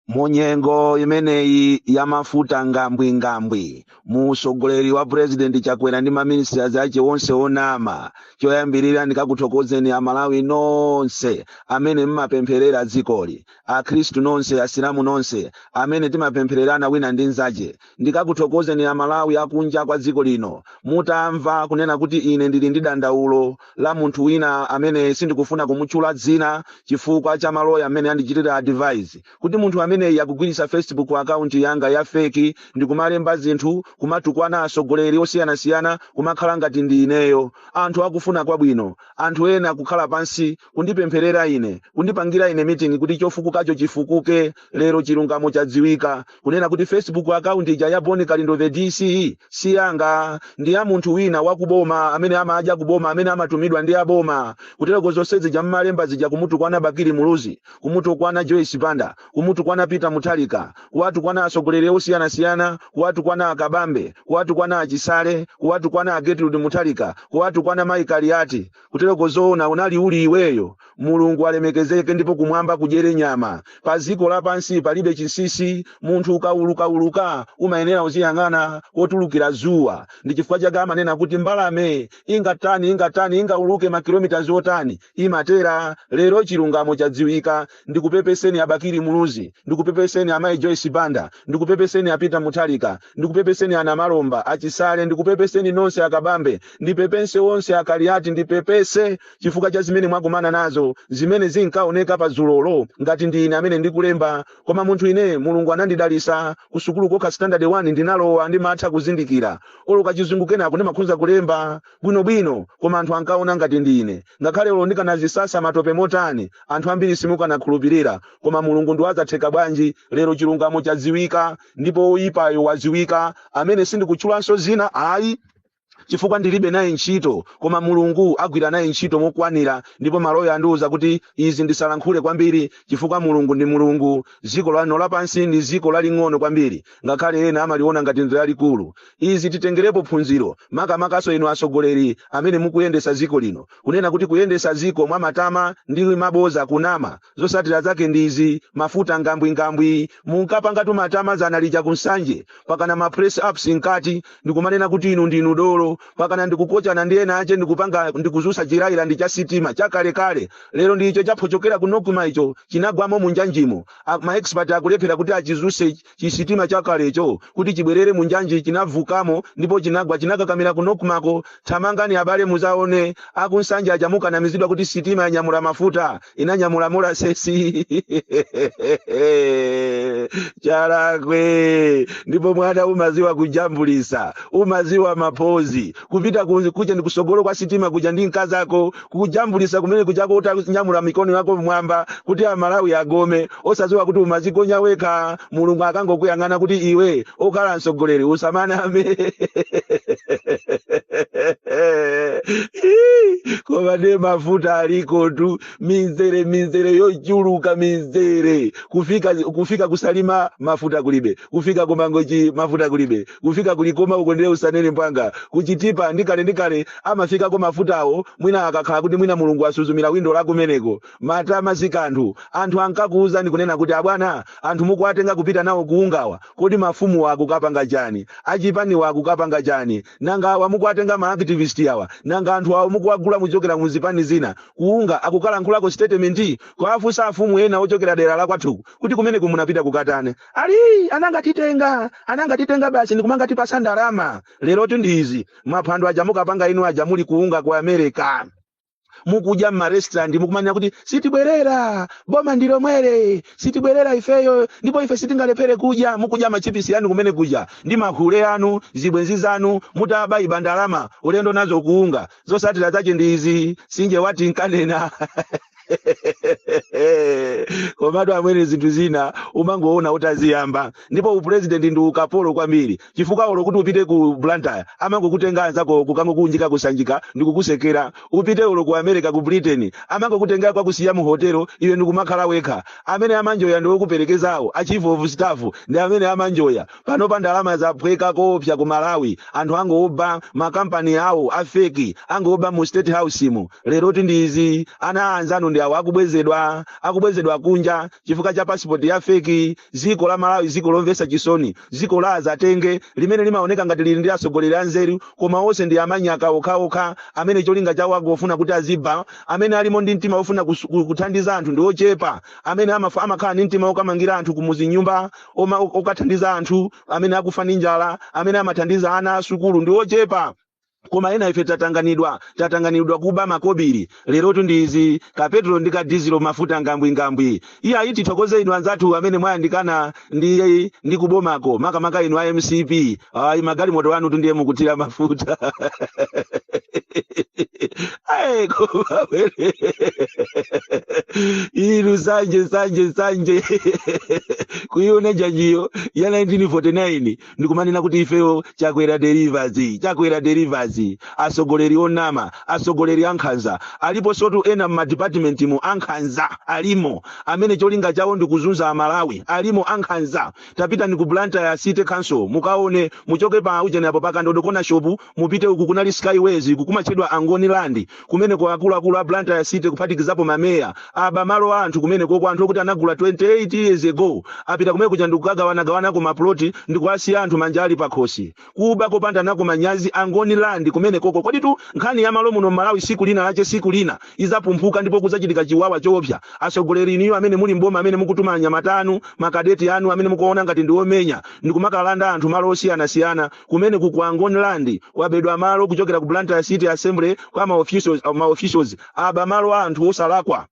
mu nyengo imeneyi ya mafuta ngambwingambwi mu usogoleri wa purezidenti chakwera ndi maminisitasi ache onse onama choyambirira ndikakuthokozeni amalawi nonse amene mmapempherera dzikoli akhristu nonse asilamu nonse amene timapemphererana wina ndi nzache ndikakuthokozeni amalawi akunja kwa dziko lino mutamva kunena kuti ine ndili ndi dandaulo la munthu wina amene sindikufuna kumutchula dzina chifukwa cha maloya amene andichitira advise kuti munthu ameneyi akugwiritsa facebook account yanga ya feki ndikumalemba zinthu kumatukwana atsogoleri osiyanasiyana kumakhala ngati ndi ineyo anthu akufuna kwabwino anthu ena kukhala pansi kundipempherera ine, kundipangira ine meeting kuti chofukukacho chifukuke, lero chilungamo chadziwika, kunena kuti Facebook account ija ya Bon Kalindo the DC si yanga, ndi ya munthu wina wa kuboma amene amadya kuboma, amene amatumidwa ndi aboma, kutereko zonse zija mmalemba zija kumutukwana Bakili Muluzi, kumutukwana Joyce Banda, kumutukwana Peter Mutharika, kuwatukwana atsogoleri osiyanasiyana, kuwatukwana a Kabambe, kuwatukwana a Chisale, kuwatukwana Gertrude Mutharika, kuwatukwana Mai Kaliati, Kuteroko zoona unali uli iweyo? Mulungu alemekezeke ndipo kumwamba kudyere nyama. Paziko lapansi palibe chinsisi, munthu ukaulukauluka umayenera uziyang'ana kotulukira zuwa. Ndi chifukwa chake amanena kuti mbalame ingatani ingatani ingauluke makilomitazi otani imatera. Lero chilungamo chadziwika. ndikupepeseni abakili muluzi ndikupepeseni amayi joyce banda ndikupepeseni a peter mutharika ndikupepeseni ana malomba a chisale ndikupepeseni nonse a kabambe ndipepese onse a kaliati ndipepese chifukwa cha zimene mwakumana nazo zimene zinkaoneka pa zulolo ngati ndi ine amene ndikulemba koma munthu ine mulungu anandidalisa kusukulu kokha standard 1 ndinalowa ndimatha kuzindikira olo kachizungu kena kake ndimakhoza kulemba bwinobwino koma anthu ankaona ngati ndi ine ngakhale olo ndikanazisasa matope motani anthu ambiri simukanakhulupirira koma mulungu ndi wazatheka bwanji lero chilungamo chadziwika ndipo woyipayo wadziwika amene sindikutchulanso zina ayi chifukwa ndilibe naye ntchito koma mulungu agwira naye ntchito mokwanira ndipo maloya andiwuza kuti izi ndisalankhule kwambiri chifukwa mulungu ndi mulungu dziko lano lapansi ndi dziko laling'ono kwambiri ngakhale ena amaliona ngati ndi lalikulu izi titengerepo phunziro makamakanso inu atsogoleri amene mukuyendetsa dziko lino kunena kuti kuyendetsa dziko mwa matama ndi maboza kunama zotsatira zake ndi izi mafuta ngambwingambwi munkapangatu matama dzana lija ku nsanje pakana ma press ups mkati ndikumanena kuti inu ndinu dolo pakana ndikukochana ndi ena ake ndikupanga ndikuzutsa chilaila ndi chi sitima chakalekale lero ndi icho chaphochokera ku nokuma icho chinagwamo munjanjimo ma expert akulephera kuti achizutse Chisitima chakalecho kuti chibwerere mu njanji chinavutamo ndipo chinagwa chinakakamira kunokumako. Thamangani abale muzaone aku Nsanje aja mukanamizidwa kuti sitima yanyamula mafuta inanyamula molasesi chalakwe ndipo mwana umaziwa kujambulisa umaziwa mapozi kupita kuja ndi kusogolo kwa sitima kuja ndi mkazako kujambulisa kumene kujako utanyamula mikono yako mmwamba kuti amalawi agome osadziwa kuti umazikonya wekha mulungu akangokuyang'ana kuti iwe okhala mtsogoleri usamaname koma ne mafuta alikotu mizere mizere yochuluka mizere kufika kufika kusalima mafuta kulibe kufika kumangochi mafuta kulibe kufika ku Likoma uko ndiye usanene mpwanga, ku Chitipa ndi kale ndi kale amafikako mafutawo mwina akakhala kuti mwina Mulungu asuzumira windo la kumeneko. Matama sikanthu. Anthu ankakuwuzani kunena kuti abwana anthu mukuwatenga kupita nawo ku Ungawa. Kodi mafumuwa akukapanga chani? Achipaniwa akukapanga chani? Nanga awa mukuwatenga ma activist awa? Nanga anthu awo mukuwagula muchokera mu zipani zina? Ku Unga akukalankhulako statement? Kuwafunsa afumu ena ochokera dera la kwathuku kuti kumeneko munapita kukatana? Ali anangatitenga anangatitenga basi ndikumangatipasa ndalama lerotu ndi izi maphwando aja mukapanga inu aja muli kuunga ku america mukudya mmarestaurant mukumanena kuti sitibwerera boma ndi lomweli sitibwerera ifeyo ndipo ife sitingalephere kudya mukudya machipisi anu kumene kudya ndi mahule anu zibwenzi zanu mutaba iba ndalama ulendo nazo kuunga zosatira zache ndi izi Sinje wati nkanena komatu amwene zinthu zina umangoona utaziyamba ndipo upulezidenti ndi ukapolo kwambiri chifukwa olo kuti upite ku blantyre amangokutenga anzako kukangokunjika kusanjika ndi kukusekera upite olo ku america ku britain amangokutenga kwakusiya mu hotelo iwe ndikumakhala wekha amene amanjoya ndi wokuperekezawo achief of staff ndi amene amanjoya Panopa ndalama zaphweka koopsa ku Malawi. Anthu angooba ma company awo a fake, angooba mu state house mu. Lerotu ndi izi, ana anzanu ndi awa akubwezedwa, akubwezedwa kunja chifukwa cha passport ya fake. Dziko la Malawi dziko lomvetsa chisoni, dziko la adzatenge limene limaoneka ngati lili ndi atsogoleri anzeru koma onse ndi amanyaka okhaokha amene cholinga chawo angofuna kuti aziba. Amene alimo ndi mtima wofuna kus- ku- kuthandiza anthu ndi ochepa, amene amafa- amakhala ndi mtima wokamangira anthu kumuzi nyumba oma- okathandiza anthu amene akufa ndi njala amene amathandiza ana a sukulu ndi ochepa koma ena ife tatanganidwa tatanganidwa kuba makobiri lerotu ndi izi kapetro ndi kadizilo mafuta ngambwingambwi iya ayi tithokoze inu anzathu amene mwayandikana ndi ndi kubomako makamaka inu a mcp ayi magalimoto anu tu ndiye mukuthira mafuta ayi koma wene inu sanje sanje sanje kuiona janjiyo ya 1949 ndikumanena kuti ifeyo chakwera delivers chakwera delivers asogoleri onama asogoleri ankhanza alipo sotu ena mmadipatimentimu ankhanza alimo amene cholinga chawo ndikuzunza amalawi alimo ankhanza tapitani ku blantyre city council mukaone muchoke pa ujeni apo pa kandodo corner shop mupite uku kunali skyways uku kumatchedwa angoni land kumeneko akuluakulu a blantyre city kuphatikizapo mameya aba malo a anthu kumeneko kwa anthu okuti anagula 28 years ago apita kumenekuja ndikukagawanagawanako maploti ndikuwasiya anthu manja ali pakhosi kuba kopanda nako manyazi angoni land kumenekoko koditu nkhani ya malo muno mmalawi siku lina lache siku lina izapumphuka ndipo kuzachitika chiwawa choopsa asogoleri inuyo amene muli mboma amene mukutuma anyamata anu makadeti anu amene mukuona ngati ndiomenya ndikumakalanda anthu malo osiyanasiyana kumenekuku angoni land kwabedwa malo kuchokera ku blantyre city assembly kwa maofficials, maofficials aba malo a anthu osalakwa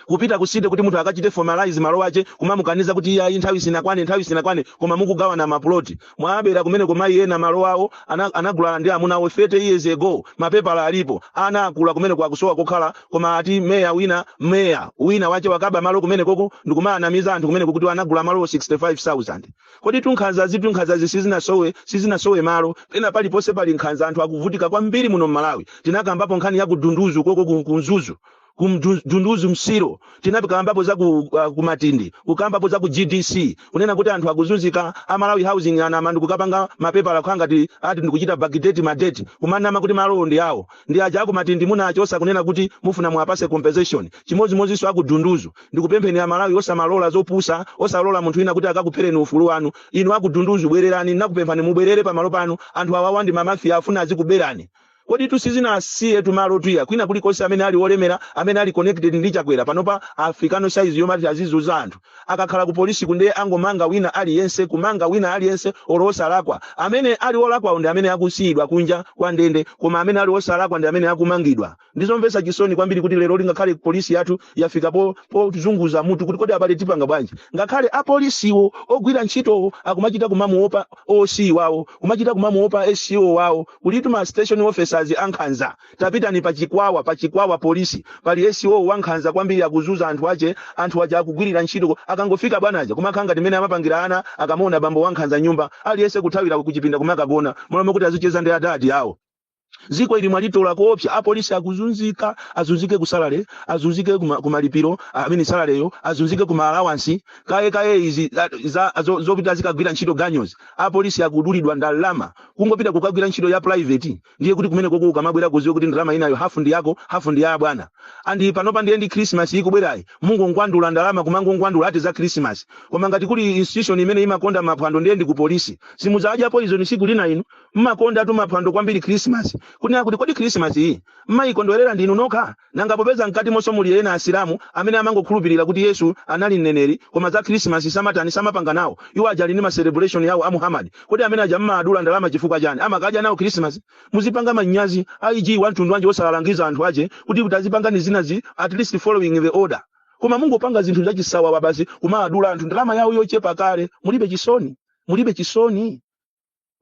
kupita kusite kuti munthu akachite formalize malo ache kumamukaniza kuti iye ayi nthawi sinakwane nthawi sinakwane koma mukugawana mapuloti mwabera kumeneko mayi ena malo awo ana- anagulana ndi amuna awo 30 years ago mapepala alipo ana akula kumeneko akusowa kokhala koma ati meya wina meya wina wache wakaba malo kumenekoko ndikumaanamiza anthu kumeneko kuti anagula malo 65000 koditu nkhanzazitu nkhanzazi sizinasowe sizinasowe malo pena paliponse pali nkhanza anthu akuvutika kwambiri muno mmalawi tinakambapo nkhani ya kudunduzu koko ku- kunzuzu ku Mdu- dunduzu msiro tinakambapo za ku, uh, kumatindi kukambapo za ku gdc kunena kuti anthu akuzunzika amalawi housing anama ndikukapanga mapepala kukhala ngati ati ndikuchita backdate madeti kumanama kuti malowo ndi awo ndi aja akumatindi munachosa kunena kuti mufuna muwapase compensation chimodzimodzinso akudunduzu ndikupempheni amalawi osamalola zopusa osalola munthu wina kuti akakuphereni ufulu wanu inu akudunduzu bwererani ndinakupemphani mubwerere pamalo panu anthu awawa ndi mamafiya afuna azikuberani Koditu sizinasiyetu malotu iya kwina kulikonse amene ali olemera amene ali connected ndi chakwera panopa afika pa size yomati azizunza anthu akakhala ku polisiku nde angomanga wina aliyense kumanga wina aliyense olo osalakwa amene ali olakwawo ndi amene akusiyidwa kunja kwa ndende koma amene ali osalakwa ndi amene akumangidwa ndizomvetsa chisoni kwambiri kuti leroli ngakhale polisi yathu yafika po pozunguza mutu kuti kodi abale tipanga bwanji ngakhale apolisiwo ogwira ntchitowo akumachita kumamuopa OC wawo kumachita kumamuopa SCO wawo kulitu ma station officers ankhanza tapitani pa chikwawa pa chikwawa polisi pali SO wankhanza kwambiri akuzuza anthu ache anthu aja akugwirira ntchito ko- akangofika bwanaja kumakhala ngati mmene amapangira ana akamaona bambo wankhanza nyumba aliyense kuthawira kuchipinda kumakagona m'malo moti kuti azicheza ndi adadi awo ziko ili mwalitola koopsa apolisi akuzunzika azunzike ku salary azunzike kuma- ku malipiro amene salareyo azunzike ku maalawansi kaye kaye izi za- za- zo- zopita zikagwira ntchito ganyozi apolisi akudulidwa ndalama kungopita kukagwira ntchito ya private ndiye kuti kumene koko ukamabwera kuziwe kuti ndalama imeneyo hafu ndi yako hafu ndi ya abwana and panopa ndiye ndi christmas ikubwerayi mungowadula ndalama kumangowadula ati za christmas koma ngati kuli institution imene imakonda maphwando ndiye ndi ku polisi simudzadya poison tsiku lina inu mmakonda tu maphwando kwambiri christmas kunena kuti kodi christmas iyi mmayikondwerera ndinu nokha Nanga popeza mkatimonso muli ena Asilamu amene amangokhulupirira kuti Yesu anali mneneri koma za Khrisimasi samatani, samapanga nawo, iwo aja ali ndi ma celebration awo a Muhammad, kodi amene aja mmaadula ndalama chifukwa chani? Amakadya nawo Khrisimasi? Muzipanga manyazi, IG wamtundu wanji osawalangiza anthu ache kuti tazipangani zinazi at least following the order. Koma mungopanga zinthu zachisawawa basi kumaadula anthu ndalama yawo yochepa kale, mulibe chisoni? Mulibe chisoni?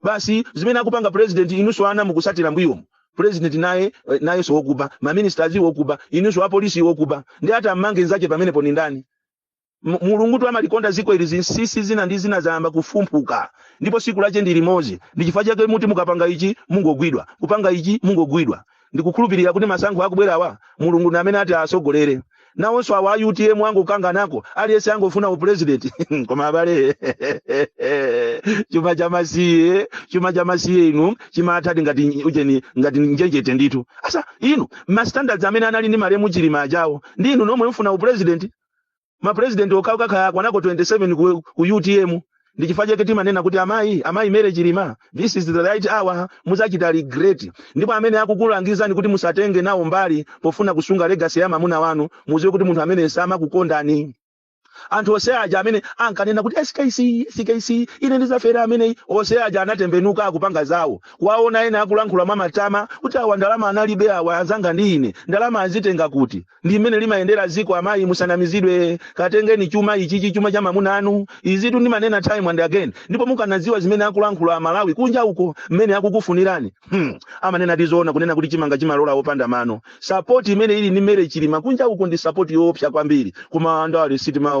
basi zimene akupanga president inunso ana mukusatira mbuyomu president naye eh, nayenso wokuba maministers wokuba inunso apolisi wokuba ndiye ati ammange nzache pamenepo ni ndani M- mulungu tu amalikonda ziko ili zinsisi zina ndi zina zayamba kufumbuka ndipo siku lache ndi limodzi ndi chifukwa chake mukuti mukapanga ichi mungogwidwa kupanga ichi mungogwidwa ndikukhulupirira kuti masankho akubwerawa mulungu ndi amene ati asogolere nawonso awa a utm angokanganako aliyense angofuna upulezidenti koma abale chuma cha masiye chuma cha masiye inu chimatha ngati ujeni ngati njenjete ndithu asa inu mastandards amene anali ndi malemu chilima ajawo ndi inu nomwe mfuna upulezidenti ma president okhawo kaya akwanako 27 ku, ku utm ndi chifukwa chake timanena kuti amayi amayi mere chilima this is the right hour muzachita regret ndipo amene akukulangizani kuti musatenge nawo mbali pofuna kusunga legacy ya mamuna wanu muziwe kuti munthu ameneyo samakukondani anthu onse aja amene ankanena kuti skc skc ine ndizafera ameneyi onse aja anatembenuka akupanga zawo kuwaona ena akulankhula mwa matama kuti awa ndalama analibe awa anzanga ndi ine ndalama azitenga kuti ndi mmene limayendera ziko amayi musanamizidwe katengeni chuma ichichi chuma cha mamuna anu izitu ndimanena time and again ndipo mukanadziwa zimene akulankhula amalawi kunja uko mmene akukufunirani hmm. amanena ndi zoona kunena kuti chimanga chimalola opanda mano sapoti imene ili ndi mere chilima kunja uko ndi sapoti yoopsa kwambiri koma andale sitimaona